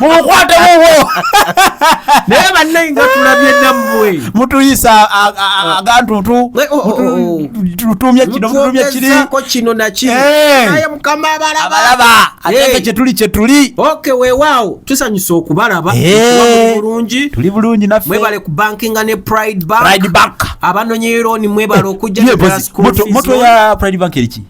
mumukwate wuwo naye bannaye nga tulabye nammwe mutuyisa agantutu tutumye kino tutumye kiriko kino nakinaye mukama abalabalaba ate kyetuli kyetuli ok wewaawo tusanyusa okubalaba bulungi tuli bulungi naffe mwebale ku bankinga ne pride bank abanonyeyo looni mwebale okujja mutwe ya pride bank eriki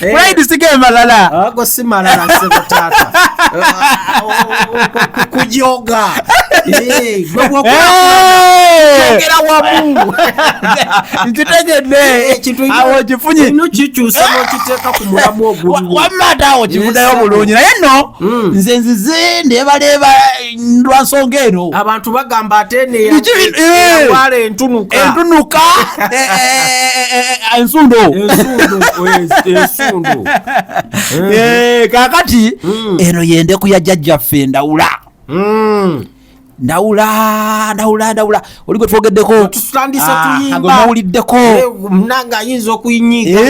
pride sige malala ago si malala sebo tata kujoga ogera wamu nkitegedde awo kifunye no kikyusa nokiteeka ku mulamu ogwo wamma ate awo kivudayo bulungi naye no nze nzize ndebaleeba lwansonga eno abantu bagamba ate neyawala eh, entunuka entunuka eh, eh, ensundo kakati hmm. eno yendeku ya jajjaffe ndawula hmm. ndawula ndawula ndawula oli gwe twogeddeko tutandisa ah, tuyimba mawuliddeko munange ayinza okuyinyiiga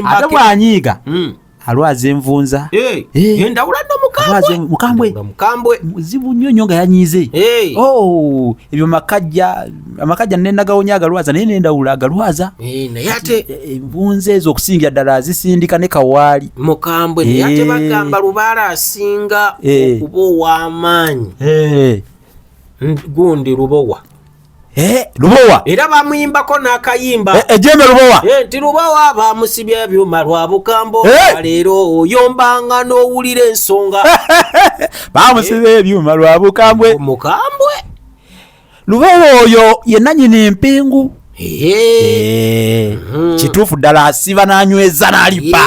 ate bwanyiiga hmm. alwaza envunza eh, eh. yendawula no mukambwe mukambwe mukambwe muzibu nnyo nnyo nga yanyize eh. oh, ebyo makajja amakajja nenagawonya agalwaza naye nendawula agalwaza naye ate envunza ezo okusingira ddala azisindika ne kawaali mukambwe naye ate bagamba lubaala asinga okuba ow'amaanyi gundi lubowa Eh, lubowa era bamuyimbako n'akayimba eh, ejembe lubowa eh, nti lubowa bamusibye ebyuma lwa bukambo leero oyombanga n'owulira ensonga bamusibye ebyuma lwa bukambwe mukambwe lubowa oyo yenanyini empingu mhm. kituufu ddala asiba n'anyweza n'alipa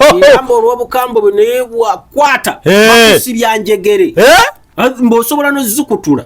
ebigambo olw'obukambwe bwe naye bwakwata bakusibya njegere mba osobola nozikutula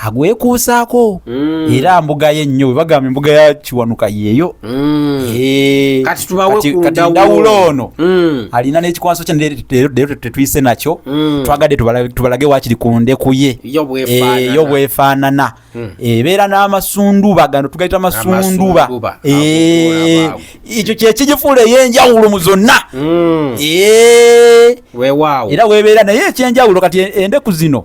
agwekuusaako mm. era mbuga ye nnyo webagamba embuga ya kiwanuka yeeyo mm. eh, kati ndawulo ono mm. alina n'ekikwanso kye leero tetuyise nakyo twagadde tubalage wakiri ku ndeku ye yo eh, bwefaanana hmm. eh, ebeera n'amasunduba gano tugayita amasunduba ekyo kyekigifuula ey'enjawulo mu zonna hmm. era webeera naye ekyenjawulo kati endeku zino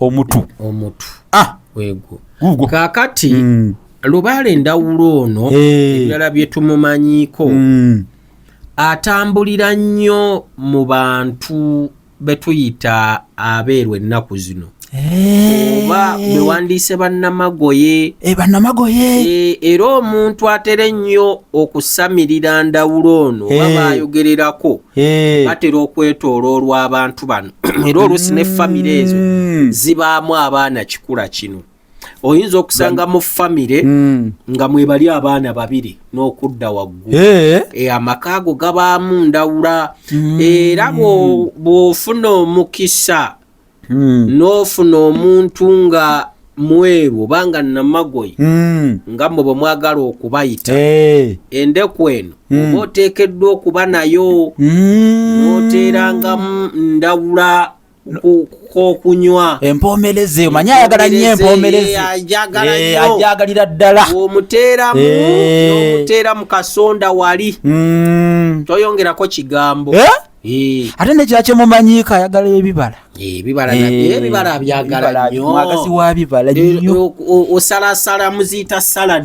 omutu omutu ah wego gugo kakati mm. lubale ndawulo ono hey. Eh. ebirala byetumumanyiko mm. atambulira nnyo mu bantu betuyita abeerwa ennaku zino eh. oba bewandiise bannamagoye eh, bannamagoye era omuntu atera ennyo okusamirira ndawulo ono oba bayogererako batera okwetooloolwa abantu bano era oluusi ne famire ezo mm. zibaamu abaana kikula kino oyinza okusanga mu famire mm. nga mwebali abaana babiri n'okudda waggulu eh? e, amaka ago gabaamu ndawula mm. era bw'ofuna omukisa n'ofuna omuntu nga mweru oba nga namagoye hmm. nga mwe bwe mwagala okubayita eh. endeku eno hmm. oba oteekeddwa okuba nayo hmm. noteerangamu ndawula kokunywa empoomereza eyo manyi ayagala nyo empoomerezajagalaajagalira eh, ddala omuteeramu eh. omuteera mu kasonda wali toyongerako kigambo Eh. ate nekira kyemumanyiiko ayagala ebibala eh, ebibala eh, byagala nyomwagasi wa bibala nyo osalasala muziyita salad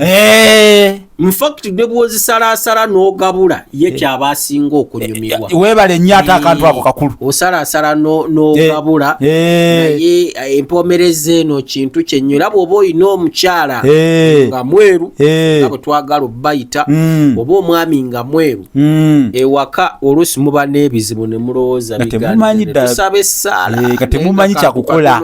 infact ne bwozisalasala n'ogabula ye kyaba asinga okunyumirwa webale nnyo ate akantu ako kakulu osalasala n'ogabula naye empomereza eno kintu kyenyo era bwoba olina omukyala nga mweru nga bwetwagala obayita mm. oba omwami nga mweru Hmm. ewaka oluusi muba n'ebizibu ne mulowooza bigatusaba essaala eh, nga temumanyi kyakukola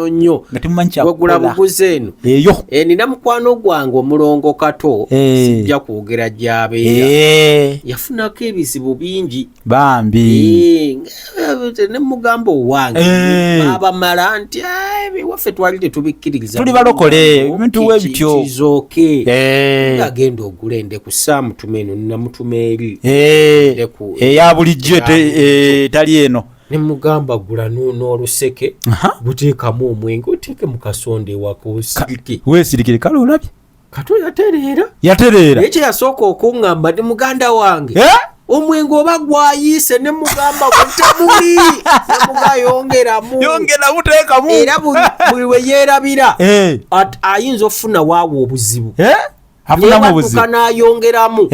wegula buguzi eno eyo enina eh, mukwano gwange omulongo kato eh. sijja kwogera gyabeera yafunako ebizibu bingi bambi eh, ne mugamba owange eh. abamala nti ebiwaffe twali tetubikkiriza tuli balokole ebintu we bityo kizoke eh. agenda ogula ende ku saamu tuma eno namutuma eri eya bulijjo etali eno ne mugamba gula n'oluseke buteekamu omwenge oteeke mu kasonda ewaka osirike weesirikire kale olabye kato yatereera yatereera naye kyeyasooka okuŋŋamba ndi muganda wange eh? omwenge oba gwayiise ne mugamba gutamuli namugayongeramu yongeramu teekamu era buli we yeerabira eh. ayinza okufuna waawo obuzibu eh? afunamubuzibnayongeramu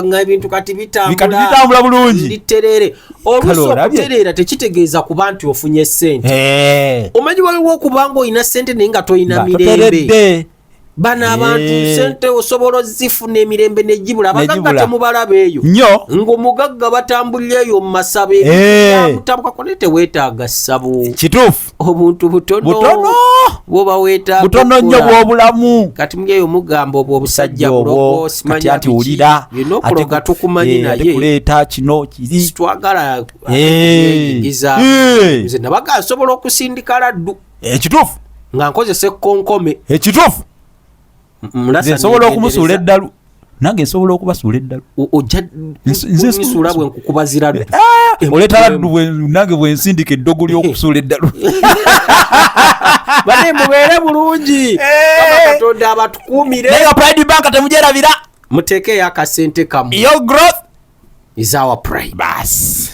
nga ebintu kati bitambula bulungi nditerere oluusi okutereera tekitegeeza kuba nti ofunye sente eh. omanyi waliwo okuba nga olina sente naye nga tolina mirembe bano abantu eh. sente osobola ozifuna emirembe negibula abagagga temubalaba eyo nyo ngaomugagga batambulira eyo mumasabo ebiamutabuka eh. kone tewetaaga ssabo kituufu obuntu butono bwobaweta butono nnyo bwobulamu kati mugeyo mugamba obwo obusajja bulokosimanyaati wulira ate tukumanyi eh, naye kuleeta kino kiri sitwagala eh. iza eh. nze nabaga nsobola okusindika laddu ekituufu nga nkozesa ekkonkome ekituufu nze nsobola okumusuula eddalu nange nsobola okubasuula eddalu ojjasuula bwe nkukubazira eh, eh, oleeta laddu nange bwe nsindika eddogo ly'okusuula eddalu bane mubeere bulungi eh. katonda abatukuumire naye nga pride bank temujerabira muteekeyo akasente kamu your growth is our pride basi